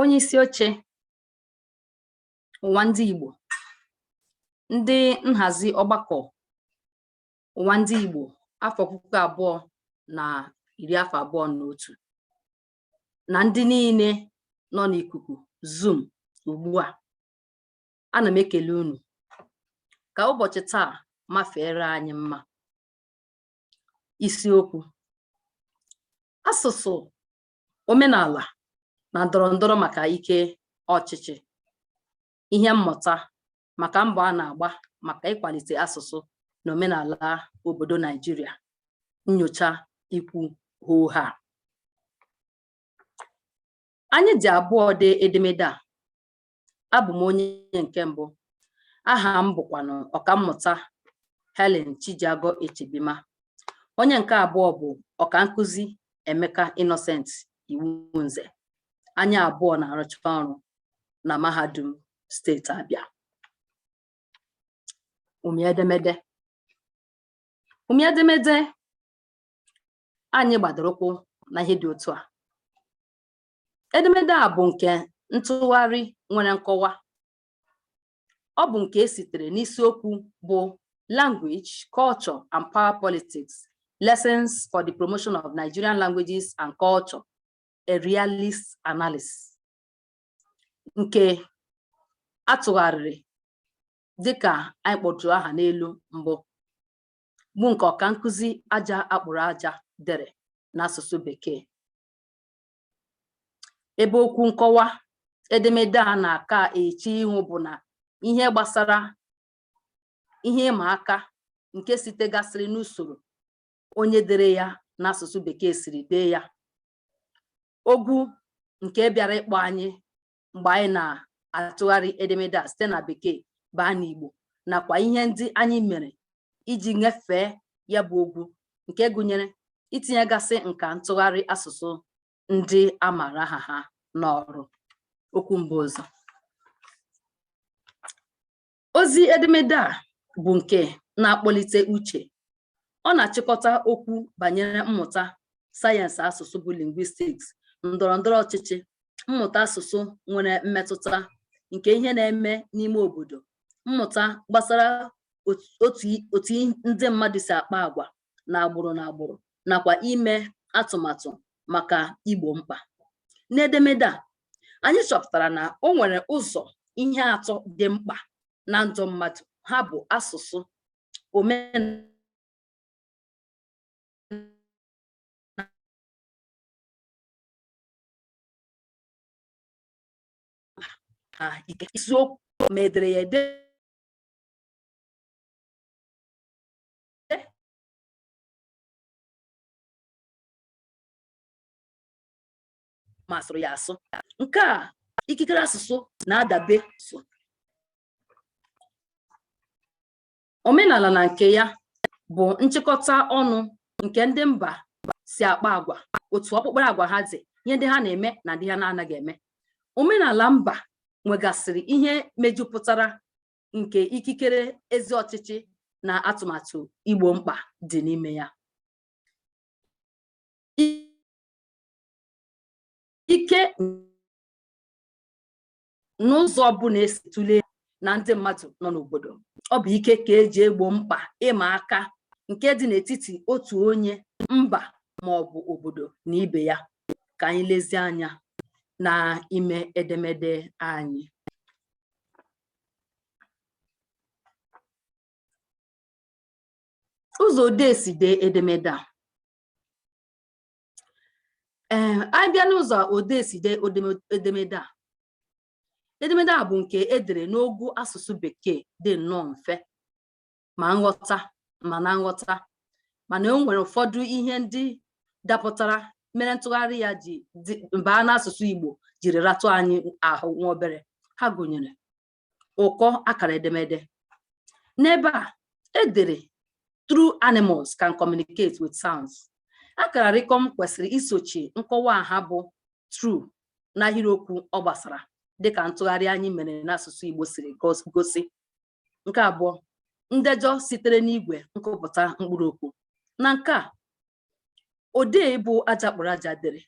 onye isi oche ụwa ndị Igbo ndị nhazi ọgbakọ ụwa ndị Igbo afọ puku abụọ na iri afọ abụọ na otu na ndị niile nọ n'ikuku zoom ugbu a ana m ekele unu ka ụbọchị taa mafeere anyị mma isiokwu asụsụ omenala na ndọrọ ndọrọ maka ike ọchịchị ihe mmụta maka mbọ a na-agba maka ịkwalite asụsụ na omenala obodo Naijiria nyocha ikwu hoo haa anyị dị abụọ dee edemede a abụ m onye nke mbụ aha m bụkwanụ ọkammụta Helen Chijiagọ Echebima onye nke abụọ bụ ọka nkụzi Emeka Innocent Iwunze anyị abụọ na-arụcha ọrụ na mahadum steeti Abịa ụmị edemede ụmị edemede anyị gbadoro ụkwụ na ihe dị otu a edemede a bụ nke ntụgharị nwere nkọwa ọ bụ nke e sitere n'isiokwu bụ language culture and power politics lessons for the promotion of Nigerian languages and culture a realist analysis nke a tụgharịrị dịka anyị kpọtụrụ aha n'elu mbụ bụ nke ọka nkụzi Aja Akpụrụ Aja dere n'asụsụ bekee ebe okwu nkọwa edemede a na-aka eche ihu bụ na ihe gbasara ihe ịma aka nke sitegasịrị n'usoro onye dere ya n'asụsụ bekee siri dee ya ogwu nke bịara ịkpọ anyị mgbe anyị na-atụgharị edemede a site na bekee baa n'Igbo nakwa ihe ndị anyị mere iji nyefee ya bụ ogwu nke gụnyere itinyegasị nka ntụgharị asụsụ ndị a maara aha ha n'ọrụ okwu mbu ụzọ ozi edemede a bụ nke na-akpọlite uche ọ na-achịkọta okwu banyere mmụta sayensị asụsụ bụ linguistics ndọrọ ndọrọ ọchịchị mmụta asụsụ nwere mmetụta nke ihe na-eme n'ime obodo mmụta gbasara otu ndị mmadụ si akpa agwa na agbụrụ na agbụrụ nakwa ime atụmatụ maka igbo mkpa n'edemede a anyị chọpụtara na o nwere ụzọ ihe atọ dị mkpa na ndụ mmadụ ha bụ asụsụ omenala na ike isiokwu ma ederede masịrị ya asụ nke a ikikere asụsụ na-adabe so omenala na nke ya bụ nchịkọta ọnụ nke ndị mba si akpa agwa otu ọkpụkpara agwa ha dị ihe ndị ha na-eme na ndị ha na-anaghị eme omenala mba nwegasịrị ihe mejupụtara nke ikikere ezi ọchịchị na atụmatụ igbo mkpa dị n'ime ya ike n'ụzọ ọbụla esi tụlee na ndị mmadụ nọ n'obodo ọ bụ ike ka eji egbo mkpa ịma aka nke dị n'etiti otu onye mba ma ọ bụ obodo na ibe ya ka anyị lezie anya na ime edemede anyị ụzọ odee si dee edemede a anyị bịa n'ụzọ odee si dee edemede a edemede a bụ nke edere n'ogo asụsụ bekee dị nnọọ mfe ma na nghọta mana o nwere ụfọdụ ihe ndị dapụtara mere ntụgharị ya ji baa n'asụsụ Igbo jiri ratụ anyị ahụ nwa obere ha gụnyere ụkọ akara edemede n'ebe a edere true animals can communicate with sounds akara rịkọm kwesịrị isochi nkọwa aha bụ true n'ahịrịokwu ọ gbasara dịka ntụgharị anyị mere n'asụsụ Igbo siri gosi nke abụọ ndejọ sitere n'igwe nkụpụta mkpụrụ okwu na nke a odee bụ Aja Akpụrụ Aja dere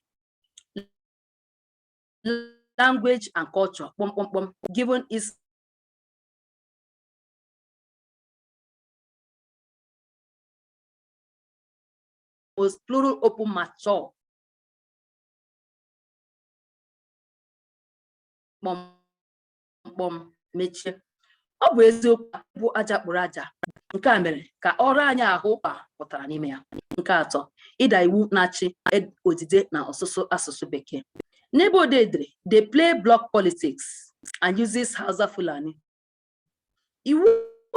language and culture kpọmkpọmkpọm given is most plural open mature kpọm mkpọ m mechie ọ bụ eziokwu bụ aja kpụrụ aja nke a mere ka ọ ra anyị ahụ ụkpa pụtara n'ime ya nke atọ ịda iwu na-achị e-, odide na ọsụsụ asụsụ bekee n'ebe odee dere they play block politics and uses Hausa Fulani iwu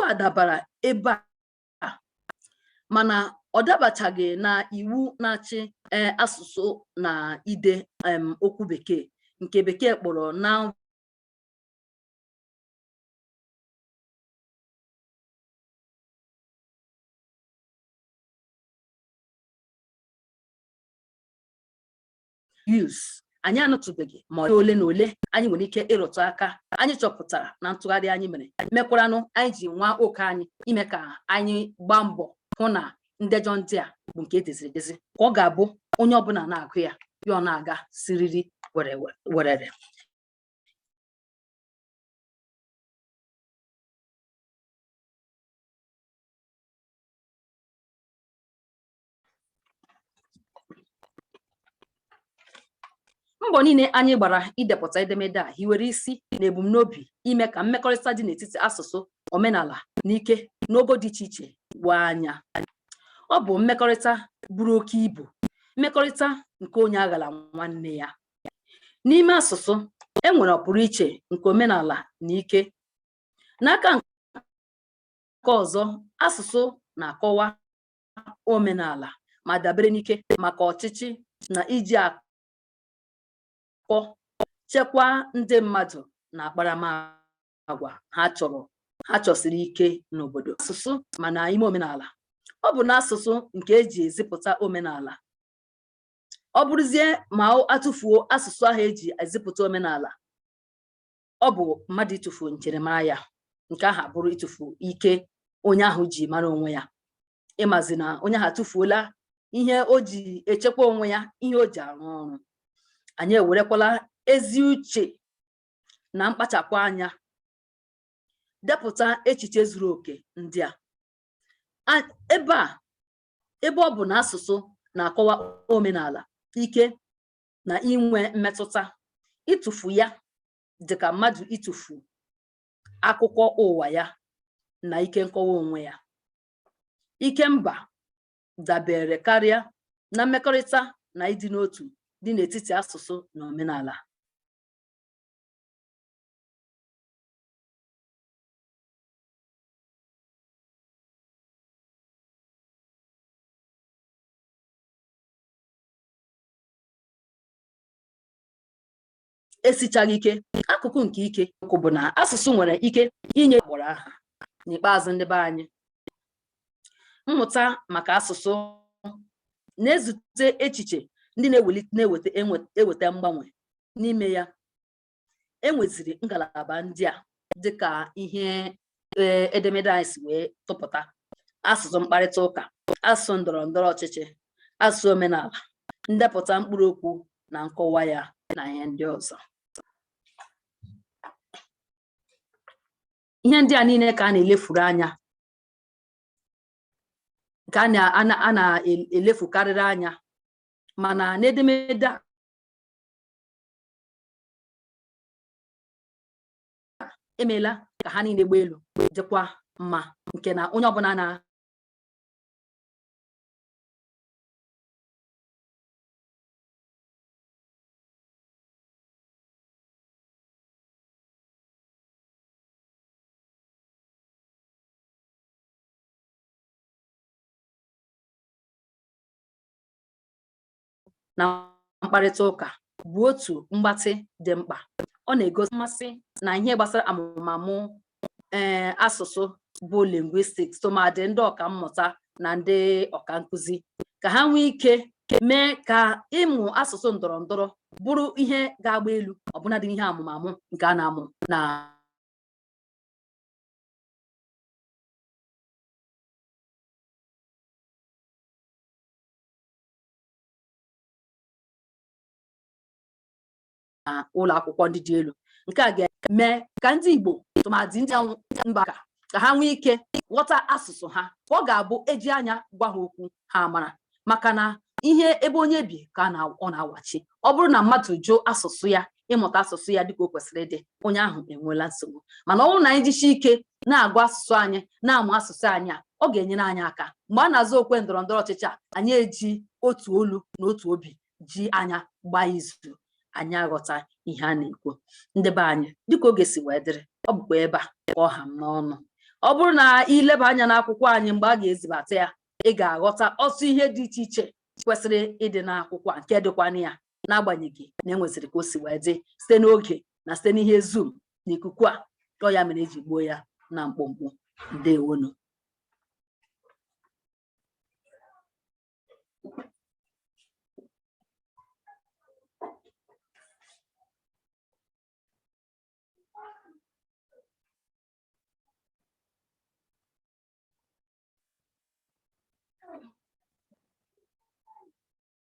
a dabara ebe a mana ọ dabachaghị na iwu na-achị e, asụsụ na ide okwu bekee nke bekee kpọrọ noun use anyị anụtụbeghị ma ole na ole anyị nwere ike ịrụtụ aka anyị chọpụtara na ntụgharị anyị mere mekwaranụ anyị ji nwa oke anyị ime ka anyị gbaa mbọ hụ na ndejọ ndị a bụ nke edeziri edezi ka ọ ga-abụ onye ọbụla na-agụ ya ya ọ na-aga siriri werere mbọ niile anyị gbara idepụta edemede a hiwere isi na ebumnobi ime ka mmekọrịta dị n'etiti asụsụ omenala na ike n'ogo dị iche iche woo anya ọ bụ mmekọrịta buru oke ibu mmekọrịta nke onye aghala nwanne ya n'ime asụsụ e nwere ọpụrụ iche nke omenala na ike n'aka nke ọzọ asụsụ na-akọwa omenala ma dabere n'ike maka ọchịchị na iji akọ chekwaa ndị mmadụ na akparamagwa ha chọrọ ha chọsiri ike n'obodo asụsụ mana ime omenala ọ bụ n'asụsụ nke eji ezipụta omenala ọ bụrụzie ma atụfuo asụsụ ahụ eji ezipụta omenala ọ bụ mmadụ ịtụfu njirimara ya nke ahụ abụrụ ịtụfu ike onye ahụ ji mara onwe ya ịmazi na onye ahụ atụfuola ihe o ji echekwa onwe ya ihe o ji arụ ọrụ anyị ewerekwala ezi uche na mkpachapụ anya depụta echiche zuru oke ndị a ebe a ebe ọ bụ na asụsụ na-akọwa omenala ike na inwe mmetụta ịtụfu ya dị ka mmadụ ịtụfu akụkọ ụwa ya na ike nkọwa onwe ya ike mba dabere karịa na mmekọrịta na ịdị n'otu dị n'etiti asụsụ na omenala esichaghị ike akụkụ nke ike okwu bụ na asụsụ nwere ike inye agbụrụ aha n'ikpeazụ ndị be anyị mmụta maka asụsụ na-ezute echiche ndị na-eweta mgbanwe n'ime ya e nweziri ngalaba ndị a dịka ihe e, edemede anyị si wee tụpụta asụsụ mkparịta ụka asụsụ ndọrọ ndọrọ ọchịchị asụsụ omenala ndepụta mkpụrụ okwu na nkọwa ya na ihe ndị ọzọ ihe ndị a niile ka a na-elefuru anya ka a na-elefukarịrị anya mana n'edemede a emeela ka ha niile gbaa elu dịkwa mma nke na onye ọbụla na na mkparịta ụka bụ otu mgbatị dị mkpa ọ na-egosi mmasị na ihe gbasara amụmamụ ee eh, asụsụ bụ linguistics tụmadị ndị ọka mmụta na ndị ọka nkụzi ka ha nwee ike mee ka ịmụ asụsụ ndọrọ ndọrọ bụrụ ihe ga-agba elu ọbụnadị ihe amụmamụ nke a na-amụ na ụlọ akwụkwọ ndị dị elu nke a ga-eme ka ndị Igbo tụmadị ndị ụmụaka ka ha nwee ike ghọta asụsụ ha ka ọ ga-abụ eji anya gwa ha okwu ha amara maka na ihe ebe onye bi ka ọ na-awachi ọ bụrụ na mmadụ jụọ asụsụ ya ịmụta asụsụ ya dịka o kwesịrị ịdị onye ahụ enweela nsogbu mana ọ bụrụ na anyị jichi ike na-agụ asụsụ anyị na-amụ asụsụ anyị a ọ ga-enyere anyị aka mgbe a na-azụ okwe ndọrọ ndọrọ ọchịchị a anyị eji otu olu na otu obi ji anya gbaa izu anyị aghọta ihe a na-ekwu ndị be anyị dịka oge si wee dịrị ọ bụkwa ebe a ka ọ ha m n'ọnụ ọ bụrụ na i leba anya n'akwụkwọ anyị mgbe a ga-ezibata ya ị ga-aghọta ọtụtụ ihe dị iche iche kwesịrị ịdị n'akwụkwọ a nke dịkwana ya n'agbanyeghị na e nwesịrị ka o si wee dị site n'oge na site n'ihe Zoom na ikuku a ọọ ya mere eji gbuo ya na mkpụmkpụ ndewo nụ